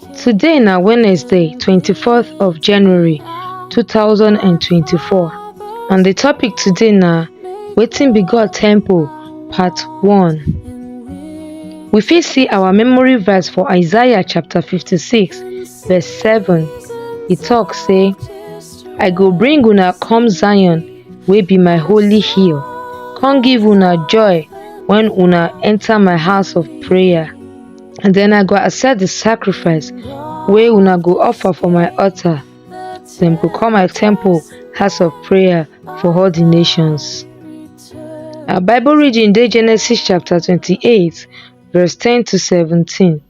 Today na Wednesday, 24th of January 2024 and the topic today na Wetin be God Temple Part 1. We fit see our memory verse for Isaiah chapter 56 verse 7. E talk say, I go bring una come Zion wey be my holy hill, come give una joy when una enter my house of prayer. and then i go accept the sacrifice wey una go offer for my altar dem go call my temple house of prayer for all the nations our bible reading dey genesis chapter twenty-eight verse ten to seventeen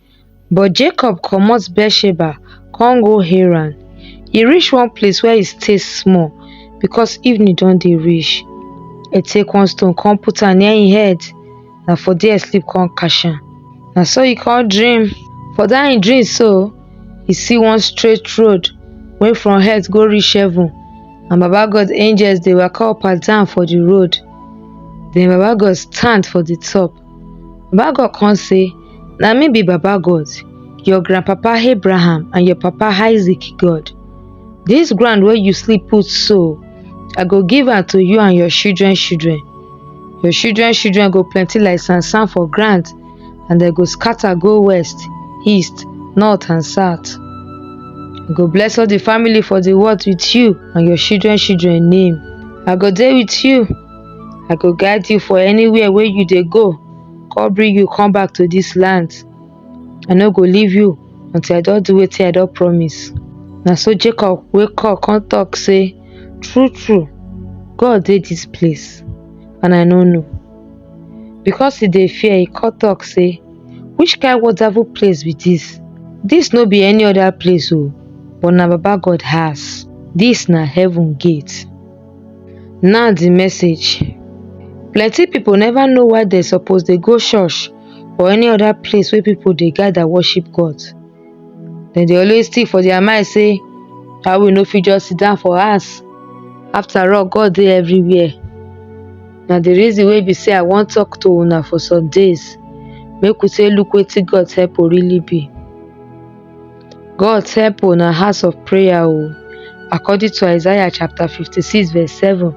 but jacob comot beersheba come go haran e reach one place where e stay small because evening don dey reach e take one stone come put am near im head na for there sleep come catch am na so he come dream for that him dream so he see one straight road wey from earth go reach heaven and baba god angels dey waka up and down for the road then baba god stand for the top baba god come say na me be baba god your grandpapa abraham and your papa isaac god this ground wey you sleep put so i go give am to you and your children children Your children children go plenty like sand sand for ground, and they go scatter go west, east, north and south. I go bless all the family for the world with you and your children children name. I go there with you. I go guide you for anywhere where you they go. God bring you come back to this land. I no go leave you until I don't do what I don't promise. Now so Jacob wake up come talk say true true God dey dis place and I no know. Because he dey fear, he come talk say, which kind wonderful place be this? This no be any other place o, but na Baba God house. This na heaven gate. Now the message. Plenty people never know why they suppose dey go church or any other place wey people dey gather worship God. dem dey always think for their mind say why we no fit just sit down for house after all God dey everywhere na the reason wey be say I wan talk to una for some days make we take look wetin God's help o really be God's help o na house of prayer o according to Isaiah chapter fifty-six verse seven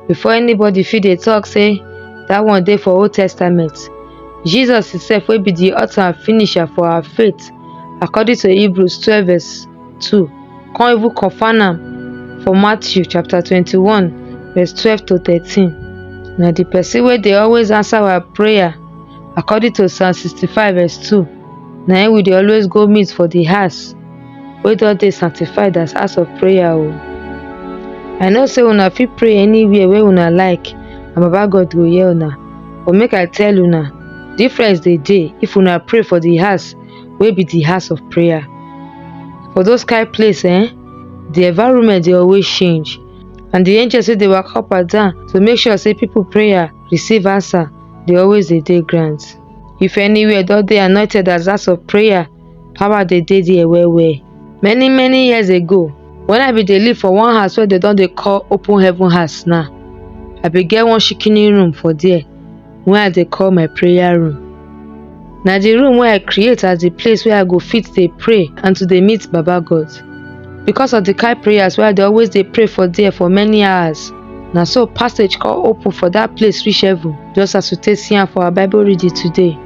before anybody fit dey talk say that one dey for old testament jesus himself wey be the author and finisher for our faith according to hebrews 12 verse 2 come even confirm am for matthew chapter 21 verse 12 to 13 na the person wey dey always answer our prayer according to psalm 65 verse 2 na him we dey always go meet for the house wey don dey sanctified as house of prayer o i know say una fit pray anywhere wey una like and baba god go hear una but make i tell una difference dey dey if una pray for the house wey be the house of prayer for those kind place eh the environment dey always change and the angels wey dey waka up and down to make sure say people prayer receive answer dey always dey dey ground if anywhere don dey anointed as house of prayer power dey dey there well well. Many many years ago when I bin dey live for one house wey dem don dey call open heaven house now, I bin get one shikini room for there wey I dey call my prayer room. Na the room wey I create as the place wey I go fit dey pray and to dey meet Baba God. Because of the kind prayers wey I dey always dey pray for there for many hours, na so passage come open for that place reach heaven just as we take see am for our Bible reading today.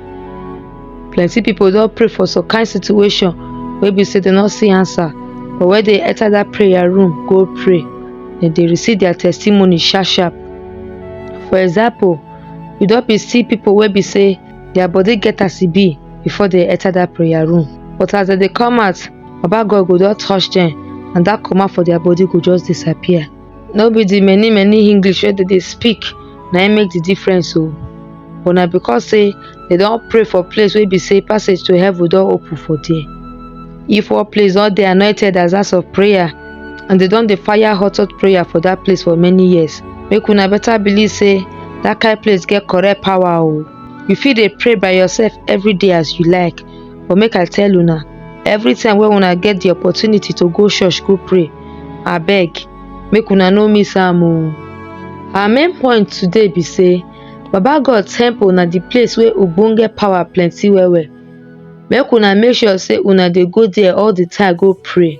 plenty pipo don pray for some kain situation wey be say dem no see answer but wen dem enter dat prayer room go pray dem dey receive their testimony sharp sharp for example you don be see pipo wey be say their body get as e be before dem enter dat prayer room but as dem dey come out baba god go don touch dem and dat comma for their body go just disappear no be the many many english wey dem dey speak na im make the difference o but na because say dem don pray for place wey be say passage to heaven don open for there if one place don dey anointed as house of prayer and dem don dey fire hot hot prayer for that place for many years make una better believe say that kind place get correct power o you fit dey pray by yourself every day as you like but make i tell una everytime wey una get the opportunity to go church go pray abeg make una no miss am o our main point today be say baba god temple na the place wey ogbonge power plenty well well make una make sure say una dey go there all the time go pray